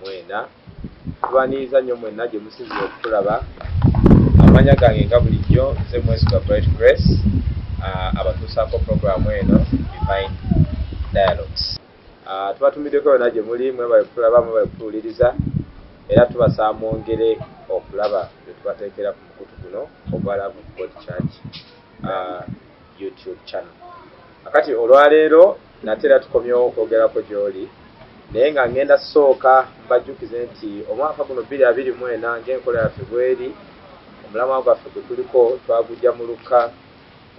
mwena tubaniriza nnyo mwena gye musinzira okutulaba amanya gange nga bulijjo nze mwesiga bright grace uh, abatuusaako puroguramu eno divine dialogues uh, tubatumiddeko yona gye muli mwebale kutulaba mwebale kutuwuliriza era tubasaba mwongere okulaba bye tubateekera ku mukutu guno ogwa love of god church uh, youtube channel akati olwaleero Nate era tukomyewo okwogerako gy'oli, naye nga ngenda kusooka mbajjukize nti omwaka guno bbiri abiri mu ena ng'enkola yaffe bw'eri, omulamwa gwaffe gwe tuliko twaguggya mu Lukka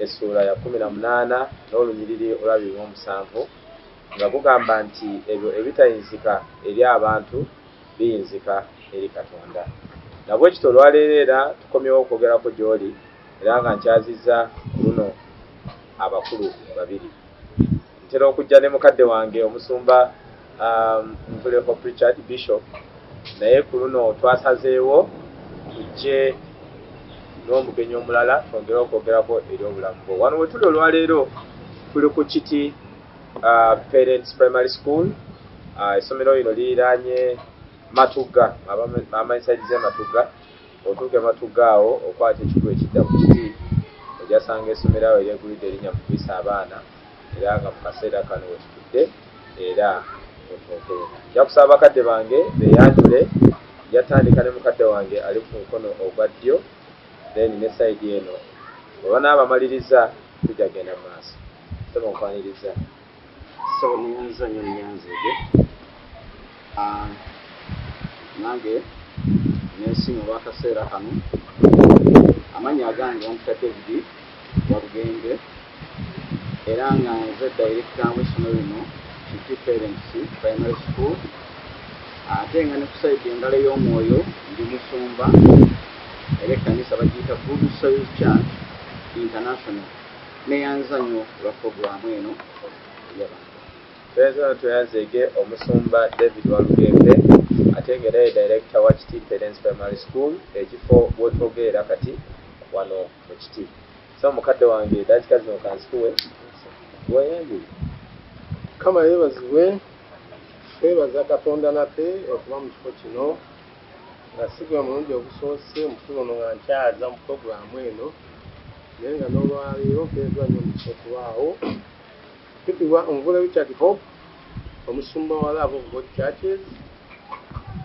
essuula ya kkumi na munaana n'olunyiriri olw'abiri mu omusanvu nga gugamba nti ebyo ebitayinzika eri abantu biyinzika eri Katonda. Na bwe kityo olwaleero era tukomyewo okwogerako gy'oli era nga nkyazizza ku luno abakulu babiri. Ntera okujja ne mukadde wange Omusumba Ntuleho Prichard, Bishop, naye ku luno twasazeewo tujje n'omugenyi omulala twongere okwogerako eri obulamu bwo. Wano we tuli olwaleero tuli ku Kiti Parents Primary School. Essomero lino liriraanye Matugga, Mama Inside z'e Matugga. Otuuka e Matugga awo okwata ekikubo ekidda ku kiti, ojasanga esomero awo eryegulidde erinya mu kuyisa abaana era nga mu kaseera kano wetutudde era mutuuke. Nja kusaba bakadde bange beyanjule, nja tandika ne mukadde wange ali ku mukono ogwa ddyo then ne side eno bwe banaaba bamaliriza tujja genda mu maaso. Ssebo nkwanirizza. Sawa muyanza nyo muyanza ege. Ah, nange nensiima olwakaseera kano amannya agange bampita david walugembe era nga nze direkita w'essomero lino kiti parents primary school ate nga ne kusaidi engalo ey'omwoyo ndi musumba era ekkanisa bagiyita good soil church international Neyanza nyo olwa program eno yaba. Twezo tweyazege omusumba David Walugembe ate nga era ye director wa Kiti Parents Primary School ekifo wotwogerera kati wano mu Kiti. So mukadde wange dakika zino kanzikuwe weyanjule. Mukama yebazibwe twebaza katonda nate okuba mu kifo kino. Nga si gwe mulundi ogusoose omukulu ono nga nkyaza mu pulogulaamu eno naye nga n'olwaleero mpeereddwa nnyo omukisa okubaawo. Mpitibwa Omuvule Richard Hope, omusumba wa Love of God Churches.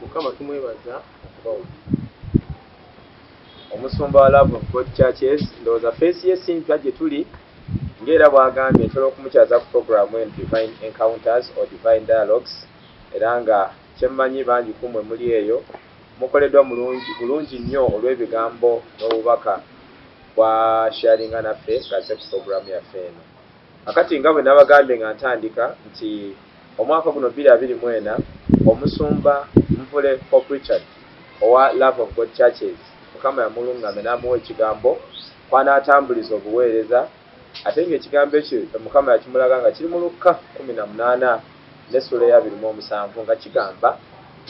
Mukama tumwebaza okubawo. Omusumba wa Love of God Churches, ndowooza feesi ye si mpya gye tuli ng'era bw'agambye ntera okumukyaza ku pulogulaamu eno Divine Encounters or Divine Dialogues era nga Kye mmanyi, bangi ku mmwe muli eyo, mukoleddwa mulungi, bulungi nnyo olw'ebigambo n'obubaka bwa sharinga naffe nga azze ku programu yaffe eno. Kakati, nga bwe nnabagambye nga ntandika, nti omwaka guno bbiri abiri mu ena, Omusumba Nvule Pope Richard owa Love of God Churches, Mukama yamulungamya n'amuwa Ekigambo kw'anaatambuliza obuweereza, Ate nga ekigambo ekyo Mukama yakimulaga nga kiri mu Lukka kkumi na munaana n'essuula ey'abiri mu omusanvu nga kigamba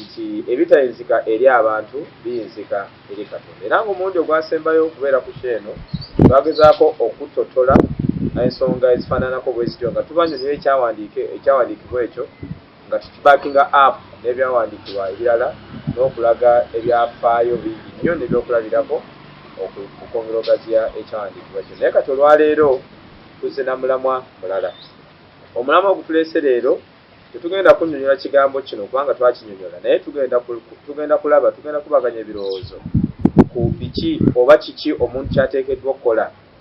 nti ebitayinzika eri abantu biyinzika eri Katonda era nga omulundi ogwasembayo okubeera ku show eno twagezaako okuttotola ensonga ezifaananako bwezityo nga tubanyonyola ekyawandiikibwa ekyo Nga tukibaakinga app n'ebyawandiikibwa ebirala n'okulaga ebyafaayo bingi nnyo n'ebyokulabirako okwongera okugaziya ekyawandiikibwa kino. Naye kati olwaleero tuzze na mulamwa mulala. Omulamwa gutuleese leero tetugenda kunnyonyola kigambo kino kubanga twakinyonyola naye tugenda kulaba, tugenda kukubaganya ebirowoozo ku biki oba kiki omuntu ky'ateekeddwa okukola.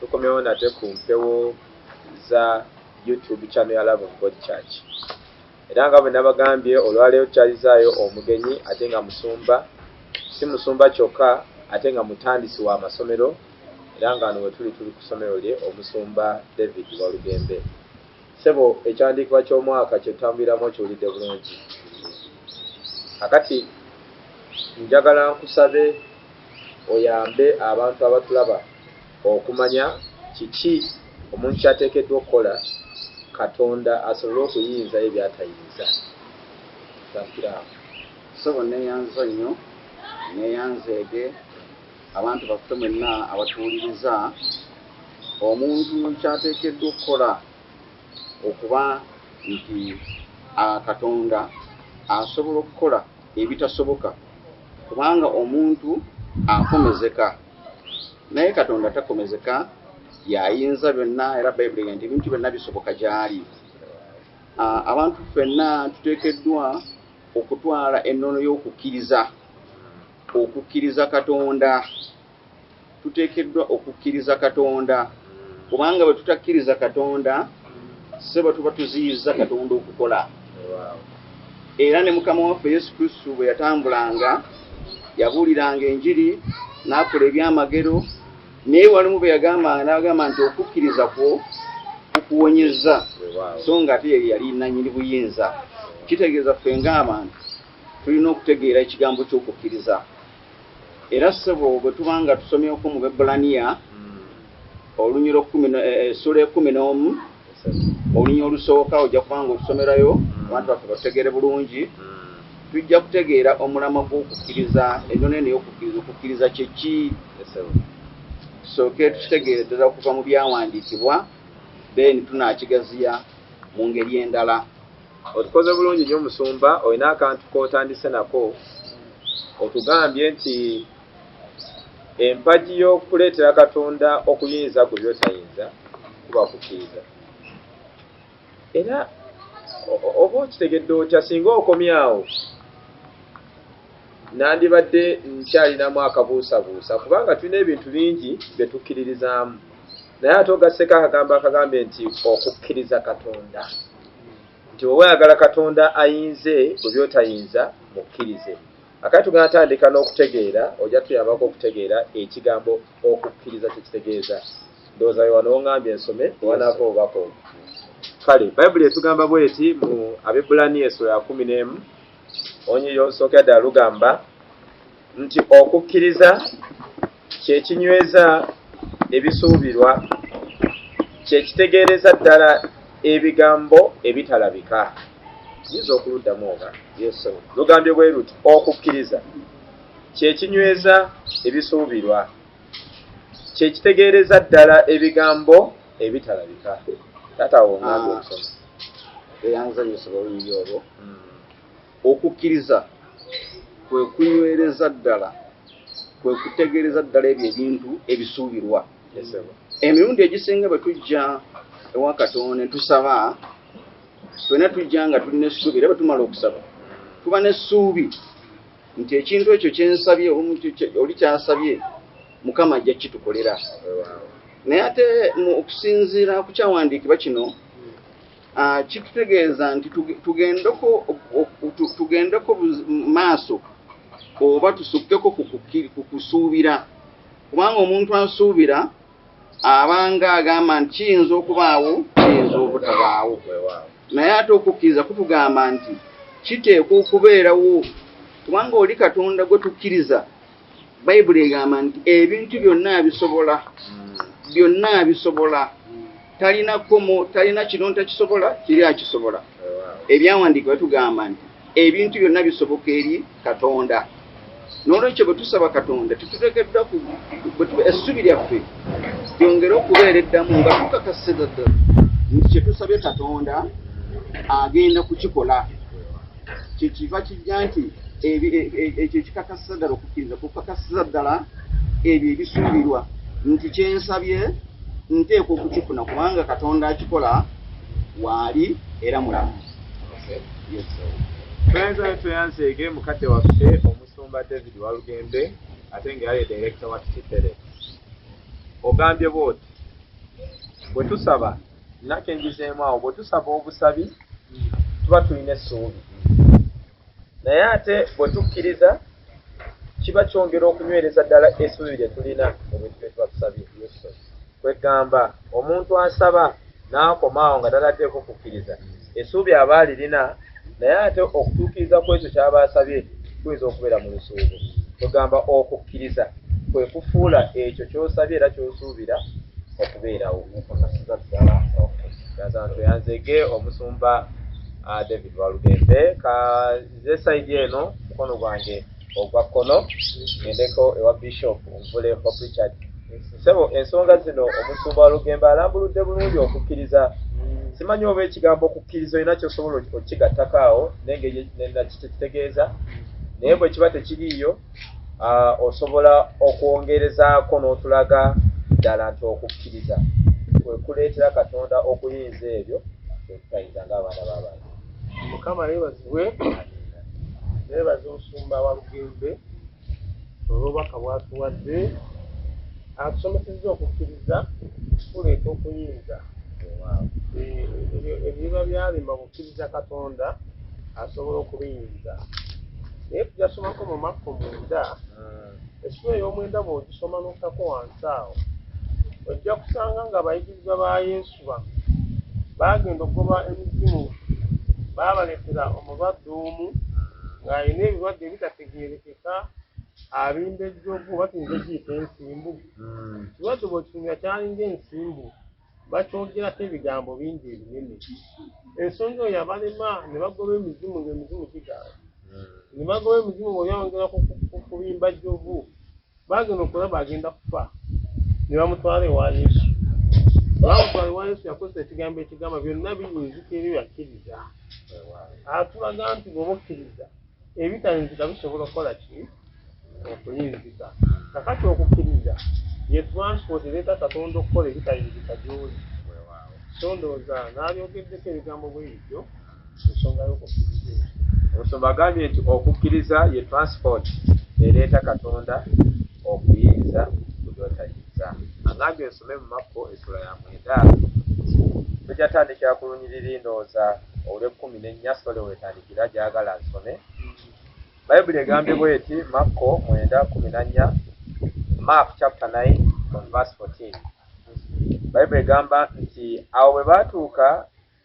tukomyewo nate ku mpewo za youtube channel ya love of god church era nga bwe nabagambye olwaleero tukyalizaayo omugenyi ate nga musumba si musumba kyokka ate nga mutandisi wa masomero era nga ano wetuli tuli ku somero lye omusumba david walugembe sebo ekyandiikibwa ky'omwaka kyetutambuliramu okiwulidde bulungi akati njagala nkusabe oyambe abantu abatulaba Okumanya kiki omuntu ky'ateekeddwa okukola Katonda asobole okuyinza ye by'atayinza. Ssankiramu. Ssebo nneeyanza nnyo, nneeyanzeege, abantu baffe mwenna abatuwuliriza, omuntu ky'ateekeddwa okukola okuba nti a, Katonda asobola okukola. ebitasoboka kubanga omuntu akomezeka naye katonda takomezeka yayinza byonna era bayibuli nti ebintu byonna bisoboka gyali ah, abantu fenna tuteekeddwa okutwala ennono y'okukkiriza okukkiriza katonda tuteekeddwa okukkiriza katonda kubanga bwe tutakkiriza katonda sebo tuba tuziyizza katonda okukola era ne mukama waffe yesu kristu bwe yatambulanga yabuuliranga enjiri n'akola ebyamagero naye walimu bwe yagambanga n'agamba nti okukkiriza kwo kukuwonyezza so nga ate ye yali nanyini buyinza kitegeeza ffe ng'abantu tulina okutegeera ekigambo ky'okukkiriza Era ssebo bwe tuba nga tusomyeko mu Bebbulaniya olunyira ekkumi na- eh, essula ekumi n'omu olunya olusooka ojja kuba nga otusomerayo abantu baffe batutegeere bulungi tujja kutegeera omulamwa gw'okukkiriza ennono eno y'okukkiriza okukkiriza kye ki tusooke tukitegeere ddala okuva mu byawandiikibwa then tunaakigaziya mu ngeri endala Otukoze bulungi nyo musumba olina akantu kotandise nako otugambye nti empagi yokuleetera katonda okuyinza gwe byotayinza kuba kukkiriza era oba okitegedde otya singa okomyawo nandibadde nkyalinamu akabuusabuusa kubanga tulina ebintu bingi byetukkiririzaamu naye ate ogasseko akagambo akagambye nti okukkiriza katonda nti oba oyagala katonda ayinze bwe byotayinza mukkirize akati tugenda tandika n'okutegeera ojja tuyambako okutegeera ekigambo okukkiriza kyekitegeeza ndowooza we wano ongambye ensome ewanaava obubaka obwo kale bayibuli etugamba bweti mu abebulaniya esula ya kumi n'emu onyiryo nsooka ddala lugamba nti okukkiriza kyekinyweza ebisuubirwa kyekitegeereza ddala ebigambo ebitalabika yinza okuluddamu oba yesu lugambye bwe luti okukkiriza kyekinyweza ebisuubirwa kyekitegeereza ddala ebigambo ebitalabika taata wongambe ah. okusoma eyanzanyisa oluyiri olwo hmm. Okukkiriza kwe kunywereza ddala, kwe kutegeereza ddala ebyo ebintu ebisuubirwa. Emirundi egisinga bwe tujja ewa Katonda ne tusaba, ffena tujja nga tulina essuubi era bwe tumala okusaba tuba n'essuubi nti ekintu ekyo kye nsabye oli kyasabye Mukama ajja kukitukolera. Naye ate okusinziira ku kyawandiikibwa kino, Ah, kitutegeeza nti tugendeko tugendeko maaso oba tusukkeko ku kusuubira kubanga omuntu asuubira abanga agamba nti kiyinza okubaawo kiyinza obutabaawo naye ate okukkiriza kutugamba nti kiteekwa okubeerawo kubanga oli katonda gwe tukkiriza Bayibuli egamba nti ebintu byonna abisobola, byonna abisobola, talina kkomo, talina kino ntakisobola, kiri akisobola. Ebyawandiikibwa tugamba nti ebintu byonna bisoboka eri Katonda. N'olwekyo bwe tusaba Katonda tetuteekeddwa essubi lyaffe lyongere okubeera eddamu nga tukakasiza ddala nti kye tusabye Katonda agenda kukikola. kyekiva kijja nti e, e, ekyo ekikakasiza ddala okukkiriza kukakasiza ddala ebyo ebisuubirwa nti kyensabye nteekwa okukifuna kubanga katonda akikola waali era mulamu Tuenza tuyanze ege mukadde waffe omusumba David Walugembe ate nga yaye director wa Kitele ogambye bwoti bwe tusaba Nake ngizeemu awo bwe tusaba obusabi tuba tulina essuubi, naye ate bwe tukkiriza kiba kyongera okunywereza ddala essuubi lye tulina mu bintu bye tuba tusabye. Kweggamba omuntu asaba n'akoma awo nga tanateeko kukkiriza, essuubi aba alirina. naye ate okutuukiriza ku ekyo kyaba asabye kuyinza okubeera mu lusuubo kwegamba okukkiriza kwe kufuula ekyo kyosabye era kyosuubira okubeerawo yanzege omusumba ah, david walugembe kanze saidi eno mukono gwange ogwa kkono gendeko ewa bishop omuvule bob richard sebo ensonga zino omusumba walugembe alambuludde bulungi okukkiriza simanyi oba ekigambo okukkiriza olina kyosobola okigattako awo nengeri nakitegeeza naye bwe kiba tekiriiyo osobola okwongerezaako n'otulaga ddala nti okukkiriza kwekuleetera katonda okuyinza ebyo byetutayinza ng'abaana b'abantu mukama yebazibwe nebaza omusumba wa lugembe olwobaka bwatuwadde atusomeseza okukkiriza kuleeta okuyinza ebiba byalima bukkiriza katonda asobola okubiyinza naye tujasomako mu makko munda esula ey'omwenda bwogisoma notako wansi awo ojja kusanga nga abayigirizwa ba yesu okukuba baagenda okugoba emizimu baabaletera omulwadde omu ng'alina ebirwadde ebitategeerekeka abimba ejjovu batuyinza okiyita ensimbu hmm. kirwadde bwekitumira kyalinga ensimbu bakyogerako ebigambo bingi ebinene ensonga oyo abalema ne bagoba emizimu ng'emizimu gigaala hmm. ne bagoba emizimu bweyawongera kubimba jjovu Baagenda okulaba agenda kufa ne bamutwala ewa Yesu. Bamutwala ewa Yesu yakozesa ekigambo ekigamba byonna biyinzika ebyo yakkiriza. Atulaga nti bw'oba okkiriza ebitayinzika bisobola okukola ki okuyinzika. Kakati okukkiriza ye transport ereeta Katonda okukola ebitayinzika gy'oli. So ndowooza naalyogeddeko ebigambo bwe bityo. ensonga y'okukkiriza eyo omusumba agambye nti okukkiriza ye transport ereeta katonda okuyinza kulyotayinza agambye nsome mu makko esula ya mwenda tojatandikira ku lunyiriri ndowooza olw'ekkumi n'ennya sole wetandikira gyagala nsome bayibuli egambye bweti makko mwenda kumi na nnya mark chapter 9 from verse 14 bayibuli egamba nti awo bwe baatuuka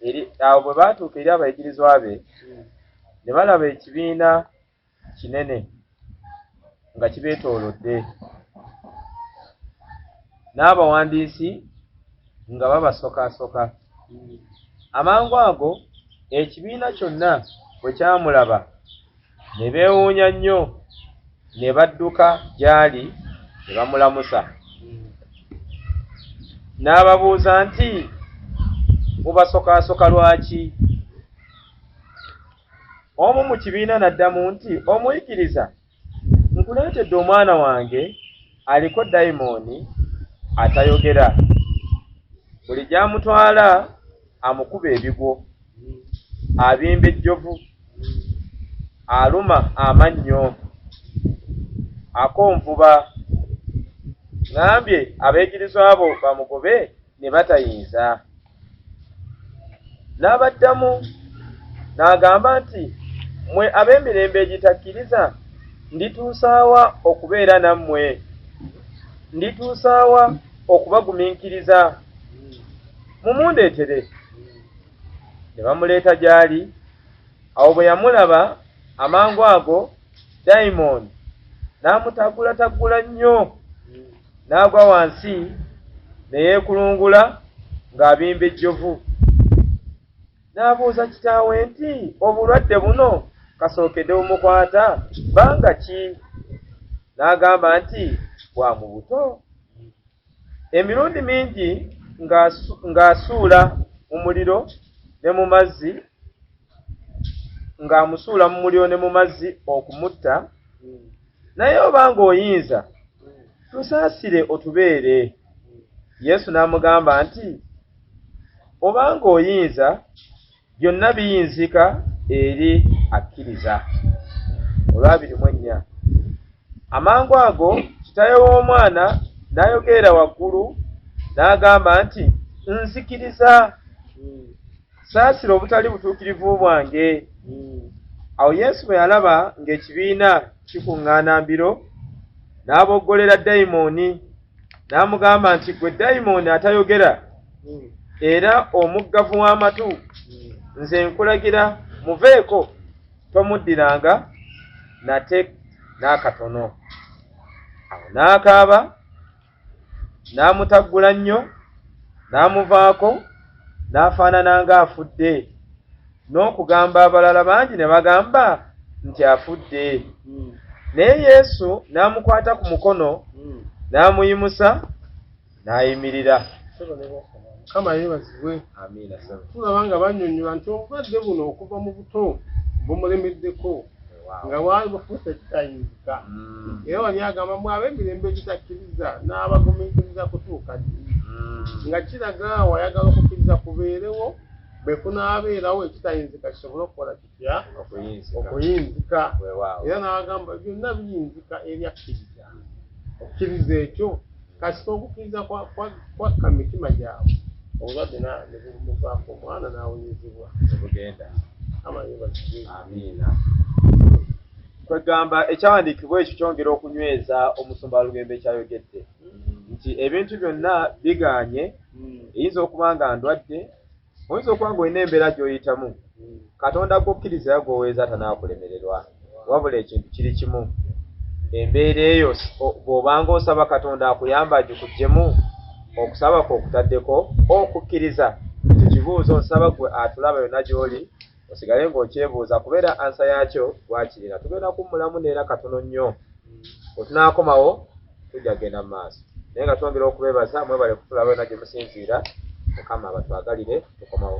eri awo bwe baatuuka eri abayigirizwa be ne balaba ekibiina kinene nga kibeetoolodde n'abawandiisi nga babasokasoka amangu ago ekibiina kyonna bwe kyamulaba ne beewuunya nnyo ne badduka gy'ali ne bamulamusa n'ababuuza nti mubasokaasoka lwaki omu mu kibiina n'addamu nti omuyigiriza nkuleetedde omwana wange aliko dayimooni atayogera buli gy'amutwala amukuba ebigwo abimba ejjovu aluma amannyo akonvuba ŋambye abayigirizwa abo bamugobe ne batayinza n'abaddamu n'agamba nti mmwe ab'emirembe egitakkiriza ndituusaawa okubeera nammwe ndituusaawa okubagumiikiriza mumundeetere ne bamuleeta gy'ali awo bwe yamulaba amangu ago dayimooni n'amutaggulataggula nnyo n'agwa wansi ne yeekulungula ng'abimba ejjovu n'abuuza kitaawe nti obulwadde buno kasookede bumukwata banga ki n'agamba nti bwa mu buto Emirundi mingi ng'asuula mu muliro ne mu mazzi ng'amusuula mu muliro ne mu mazzi okumutta naye oba ng'oyinza tusaasire otubeere yesu n'amugamba nti oba ng'oyinza byonna biyinzika eri akkiriza olwabiri mu ennya amangu ago kitaye w'omwana n'ayogeera waggulu n'agamba nti nzikiriza saasira obutali butuukirivu bwange awo yesu bwe yalaba ng'ekibiina kikuŋŋaana mbiro n'aboggolera dayimooni n'amugamba nti gwe dayimooni atayogera hmm. era omuggavu w'amatu hmm. nze nkulagira muveeko tomuddiranga nate n'akatono awo n'akaaba n'amutaggula nnyo n'amuvaako n'afaanana ng'afudde n'okugamba abalala bangi ne bagamba nti afudde hmm. naye yesu n'amukwata ku mukono hmm. n'amuyimusa n'ayimirira kama yebazibwe amiina tulaba nga banyonyola nti obulwadde buno okuva mu buto bumulemeddeko nga walibufuuse kitayinzika hmm. era wali agamba mu ab'emirembe egitakkiriza n'abagumiikiriza kutuuka ddi nga kiraga wayagala okukkiriza kubeerewo bwe kunaabeerawo ekitayinzika kisobole okukola kitya okuyinzika era n'agamba byonna biyinzika eri akkiriza okkiriza ekyo kasita okukkiriza kwakka mu mitima gyabwe obulwadde nebumuvaako omwana n'awonyezebwa obugenda amiina kwegamba ekyawandiikibwa ekyo kyongera okunyweza omusumba walugembe kyayogedde mm. nti ebintu byonna biganye mm. eyinza okuba nga ndwadde oyinza okuba nga olina embeera gy'oyitamu katonda kukkiriza ya gwoweeza tanaakulemererwa wabula ekintu kiri kimu embeera eyo bw'obanga osaba katonda akuyamba agikugyemu okusaba kwe okutaddeko okukkiriza ekyo kibuuzo nsaba gwe atulaba yonna gy'oli osigale ng'okyebuuza kuba era ansa yaakyo gwakirina tugenda kummulamu neera katono nnyo wetunaakomawo tujja kugenda mu maaso naye nga twongera okubeebaza mwebale kutulaba yona gye musinziira mukama abatwagalire tukomawo